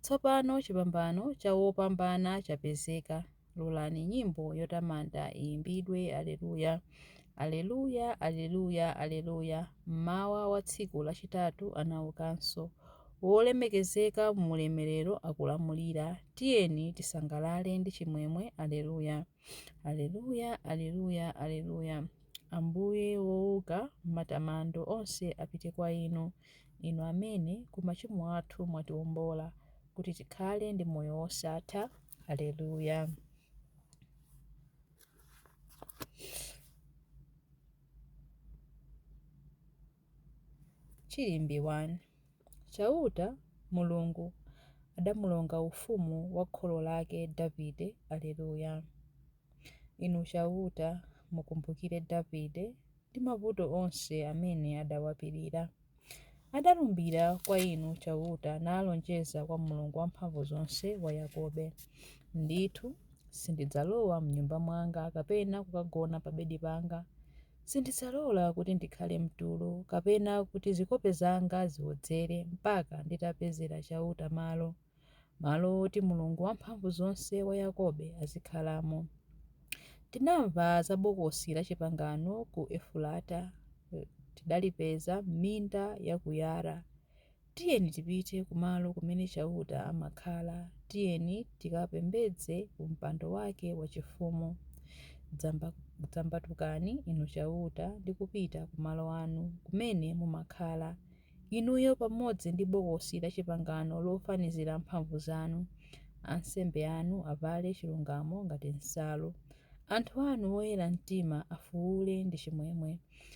Tsopano chipambano cha wopambana chapezeka. Lolani nyimbo yotamanda iyimbidwe, Aleluya! Aleluya! Aleluya! Aleluya! Mmawa wa tsiku lachitatu anaukanso. Wolemekezeka mu Ulemerero akulamulira. Tiyeni tisangalale ndi chimwemwe. Aleluya! Aleluya, Aleluya, Aleluya. Ambuye wouka matamando onse apite kwa inu, inu amene ku machimo athu mwatiwombola kuti tikhale ndi moyo wosatha. Aleluya. Chilimbi 1 Chauta, Mulungu, adamulonga ufumu wa kholo lake Davide Aleluya Inu Chauta, mukumbukire Davide ndi mavuto onse amene adawapirira. Adalumbira kwa Inu Chauta nalonjeza kwa Mulungu Wamphamvuzonse wa Yakobe, Ndithu, sindidzalowa m'nyumba mwanga kapena kukagona pabedi panga, Sindidzalola kuti ndikhale mtulo, kapena kuti zikope zanga ziwodzere, mpaka nditapezera Chauta malo, malo woti Mulungu Wamphamvuzonse wa Yakobe azikhalamo. Tinamva za Bokosi lachipangano ku Efurata, tidalipeza m'minda ya ku Yara. Tiyeni tipite kumalo kumene Chauta amakhala, tiyeni tikapembedze ku mpando wake wachifumu. Dzambatukani, Inu Chauta, ndi kupita ku malo anu, kumene mumakhala, inuyo pamodzi ndi bokosi lachipangano lofanizira mphamvu zanu. Ansembe anu avale chilungamo ngati nsalu. Anthu anu oyera mtima afuule ndi chimwemwe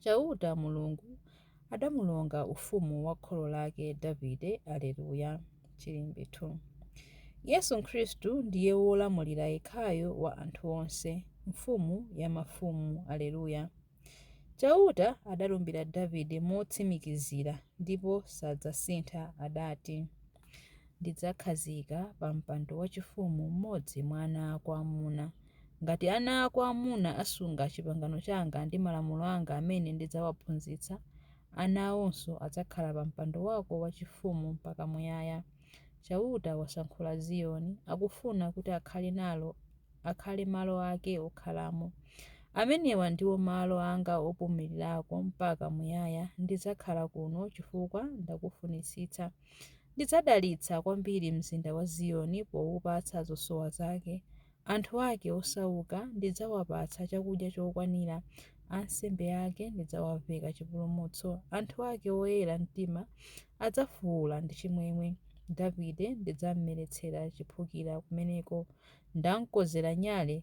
Chauta, Mulungu, adamulonga ufumu wa kholo lake Davide, Aleluya. Chilimbi 2. Yesu Khristu ndiye wolamulira yekhayo wa anthu onse, Mfumu ya mafumu, Aleluya. Chauta adalumbira Davide motsimikizira ndipo sadzasintha, adati. Ndidzakhazika pa mpando wachifumu mmodzi mwa ana ako amuna. Ngati ana ako amuna asunga chipangano changa ndi malamulo anga amene ndidzawaphunzitsa, ana awonso adzakhala pa mpando wako wachifumu mpaka muyaya. Chauta wasankhula Ziyoni, akufuna kuti akhale nalo akhale malo ake okhalamo. Amenewa ndiwo malo anga opumulirako mpaka muyaya. Ndidzakhala kuno chifukwa ndakufunitsitsa. Ndidzadalitsa kwambiri mzinda wa Ziyoni poupatsa zosowa zake. Anthu ake osauka ndidzawapatsa chakudya chokwanira. Ansembe ake ndidzawaveka chipulumutso. Anthu ake oyera mtima adzafuwula ndi chimwemwe. Davide ndidzammeretsera chiphukira kumeneko. Ndamkonzera nyale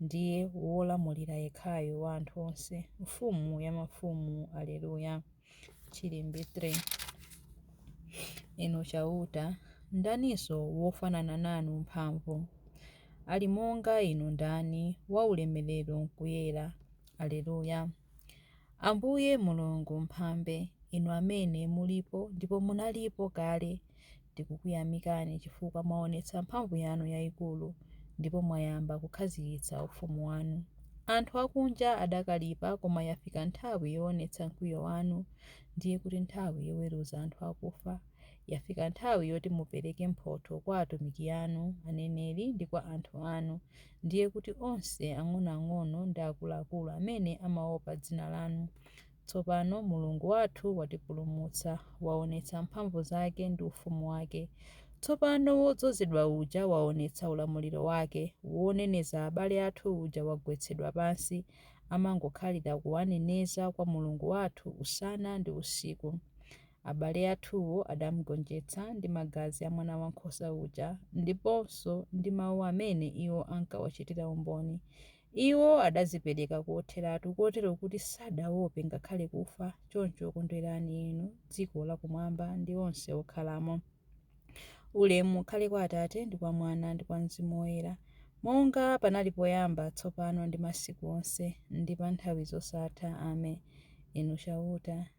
Ndiye Wolamulira yekhayo wa anthu onse, Mfumu ya mafumu. Aleluya. Chilimbi 3 Inu Chauta, ndaniso wofanana nanu mphamvu? Ali monga Inu ndani, waulemerero nkuyera? Aleluya. Ambuye Mulungu, Mphambe, Inu Amene mulipo ndipo munalipo kale, tikukuyamikani chifukwa mwaonetsa mphamvu yanu yaikulu ndipo mwayamba kukhazikitsa ufumu wanu. Anthu akunja adakalipa koma yafika nthawi yoonetsa mkwiyo wanu, ndiye kuti nthawi yoweruza anthu akufa. Yafika nthawi yoti mupereke mphotho kwa atumiki anu, aneneri ndi kwa anthu anu. ndiye kuti onse ang'onoang'ono ndi akuluakulu amene amaopa dzina lanu. Tsopano Mulungu wathu watipulumutsa, waonetsa mphamvu zake ndi ufumu wake. Tsopano Wodzozedwa uja waonetsa ulamuliro wake. Woneneza abale athu uja wagwetsedwa pansi, amangokhalira kuwaneneza kwa Mulungu wathu usana ndi usiku. Abale athuwo adamgonjetsa ndi magazi a Mwanawankhosa uja ndiponso ndi mau amene iwo ankawachitira umboni. Iwo adadzipereka kotheratu, kotero kuti sadaope ngakhale kufa. Choncho kondwerani inu dziko lakumwamba ndi onse okhalamo. Ulemu ukhale kwa Atate, ndi kwa Mwana, ndi kwa Mzimu Woyera, monga panali poyamba, tsopano ndi masiku onse, ndi pa nthawi zosatha. Ame. Inu Chauta.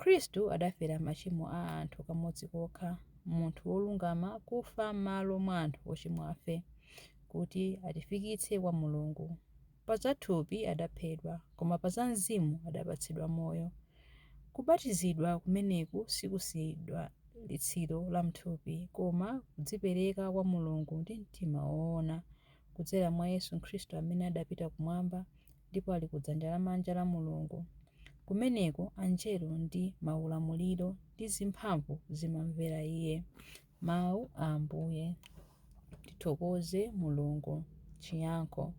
Khristu adafera machimo a anthu kamodzi kokha, munthu wolungama kufa m'malo mwa anthu ochimwafe, kuti atifikitse kwa Mulungu. Pa za thupi adaphedwa, koma pa za mzimu adapatsidwa moyo. Kubatizidwa kumeneku sikusidwa litsiro la m'thupi, koma kudzipereka kwa Mulungu ndi mtima woona. kudzera mwa Yesu Khristu amene adapita kumwamba ndipo ali kudzanja lamanja la Mulungu. Kumeneko angelo ndi maulamuliro ndi zimphamvu zimamvera iye. Mawu a Ambuye. Tithokoze Mulungu. Chiyankho.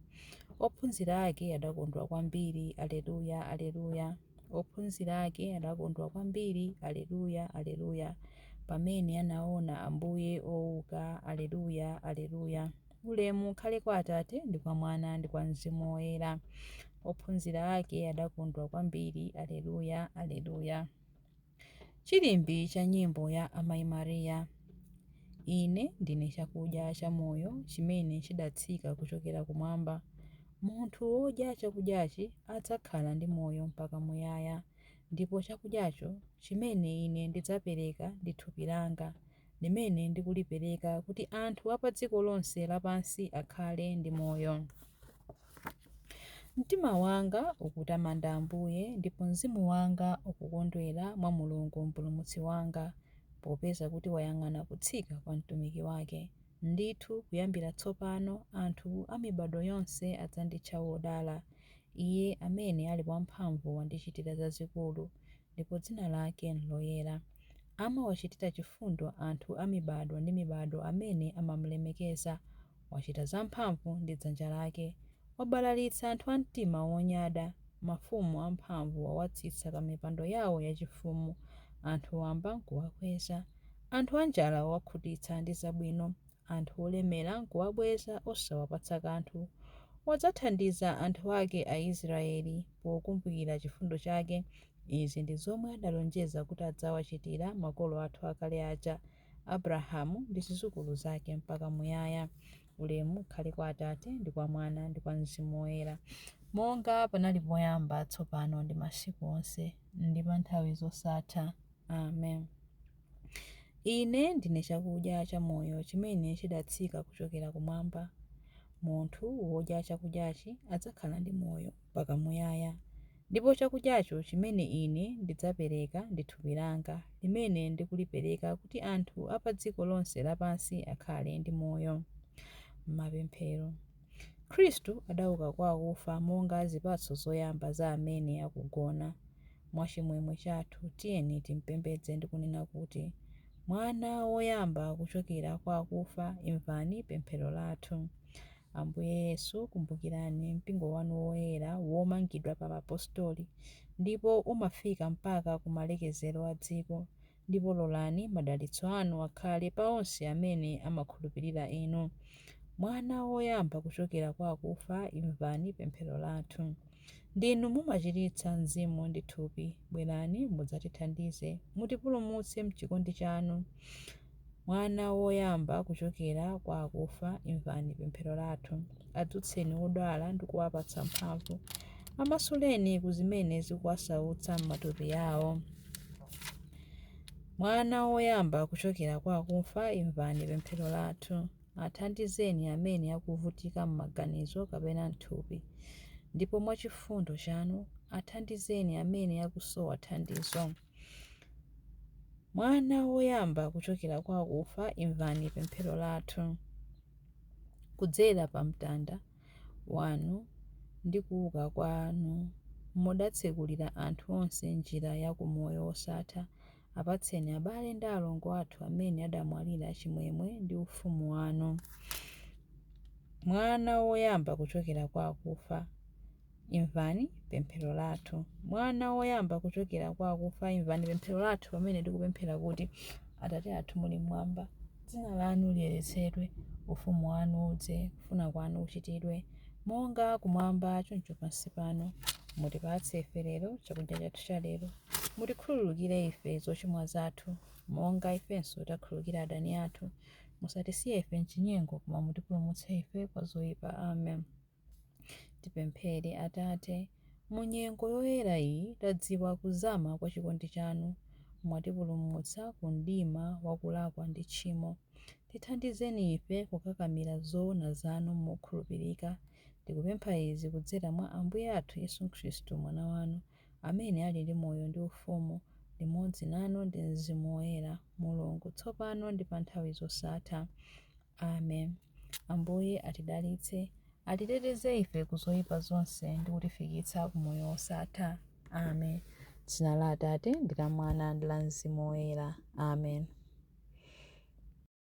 Ophunzira ake adakondwa kwambiri. Aleluya, aleluya. Ophunzira ake adakondwa kwambiri. Aleluya, aleluya. Pamene anaona Ambuye ouka. Aleluya, aleluya. Ulemu ukhale kwa Atate, ndi kwa Mwana, ndi kwa Mzimu Woyera. Ophunzira ake adakondwa kwambiri. Alleluia, Alleluia. Chilimbi cha nyimbo ya Amayi Maria. Ine ndine chakudya cha moyo chimene chidatsika kuchokera kumwamba. Munthu wodya chakudyachi adzakhala ndi moyo mpaka muyaya, ndipo chakudyacho chimene ine ndidzapereka ndi thupi langa. limene ndikulipereka kuti anthu a padziko lonse lapansi akhale ndi moyo. Mtima wanga ukutamanda Ambuye ndipo mzimu wanga ukukondwera mwa Mulungu Mpulumutsi wanga, popeza kuti wayang'ana kutsika kwa mtumiki wake. Ndithu kuyambira tsopano anthu a mibadwo yonse adzanditcha wodala. Iye amene ali wamphamvu wandichitira zazikulu, ndipo dzina lake n'loyera. Amawachitira chifundo anthu a mibadwo ndi mibadwo amene amamulemekeza. Wachita zamphamvu ndi dzanja lake. Wabalalitsa anthu a mtima wonyada. Mafumu amphamvu wawatsitsa pamipando yawo yachifumu. Anthu wamba n'kuwakweza. Anthu anjala wawakhutitsa ndi zabwino. anthu olemera n'kuwabweza osawapatsa kanthu, wadzathandiza anthu ake Aisiraeli pokumbukira chifundo chake, izi ndi zomwe adalonjeza kuti adzawachitira makolo athu akale aja, Abrahamu ndi zidzukulu zake mpaka muyaya. Ulemu ukhale kwa Atate, ndi kwa Mwana, ndi kwa Mzimu Woyera, monga panali poyamba, tsopano ndi masiku onse, ndi pa nthawi zosatha. Amen. Ine ndine chakudya cha moyo chimene chidatsika kuchokera kumwamba. Munthu wodya chakudyachi adzakhala ndi moyo mpaka muyaya. Ndipo chakudyacho chimene ine ndidzapereka ndi thupi langa, limene ndikulipereka kuti anthu a pa dziko lonse lapansi akhale ndi moyo. Mapemphero. Khristu adauka kwa akufa monga zipatso zoyamba za amene akugona. Mwa chimwemwe chathu tiyeni timpembedze ndi kunena kuti, Mwana woyamba kuchokera kwa akufa, imvani pemphero lathu. Ambuye Yesu, kumbukirani Mpingo wanu woyera womangidwa pa Apostoli ndipo umafika mpaka ku malekezero a dziko. Ndipo lolani madalitso Anu akhale pa onse amene amakhulupirira Inu. Mwana woyamba kuchokera kwa akufa, imvani pemphero lathu. Ndinu mumachiritsa mzimu ndi thupi. Bwerani mudzatithandize. Mutipulumutse m'chikondi Chanu. Mwana woyamba kuchokera kwa akufa, imvani pemphero lathu. Adzutseni odwala ndi kuwapatsa mphamvu. Amasuleni ku zimene zikuwasautsa m'matupi awo. Mwana woyamba kuchokera kwa akufa, imvani pemphero lathu. Athandizeni amene akuvutika m'maganizo kapena m'thupi. Ndipo mwachifundo chanu, athandizeni amene akusowa thandizo. Mwana woyamba kuchokera kwa akufa, imvani pemphero lathu. Kudzera pa mtanda wanu ndi kuuka kwanu, mudatsekulira anthu onse njira ya ku moyo wosatha. Apatseni abale ndi alongo athu amene adamwalira chimwemwe ndi ufumu wanu. Mwana woyamba kuchokera kwa akufa, Imvani pemphero lathu. Mwana woyamba kuchokera kwa akufa, imvani pemphero lathu pamene tikupemphera kuti, Atate athu muli mmwamba, dzina lanu liyeretsedwe, ufumu wanu udze, kufuna kwanu kuchitidwe, monga kumwamba choncho pansi pano. Mutipatse ife lero chakudya chathu cha lero. Mutikhululukire ife zochimwa zathu, monga ifenso tiwakhululukira adani athu. Musatisiye ife m'chinyengo, koma mutipulumutse ife kwa zoyipa. Amen. Tipemphere. Atate, mu nyengo yoyera iyi tadziwa kuzama kwa chikondi chanu. Mwatipulumutsa ku mdima wa kulakwa ndi tchimo. Tithandizeni ife kukakamira zoona zanu mokhulupirika. Tikupempha izi kudzera mwa Ambuye athu Yesu Khristu, Mwana wanu, amene ali ndi moyo ndi ufumu limodzi nanu ndi Mzimu Woyera, Mulungu, tsopano ndi pa nthawi zosatha. Amen. Ambuye atidalitse, atiteteze ife ku zoyipa zonse ndi kutifikitsa ku moyo wosatha. Amen. Dzina la Atate ndi la Mwana ndi la Mzimu Woyera. Amen.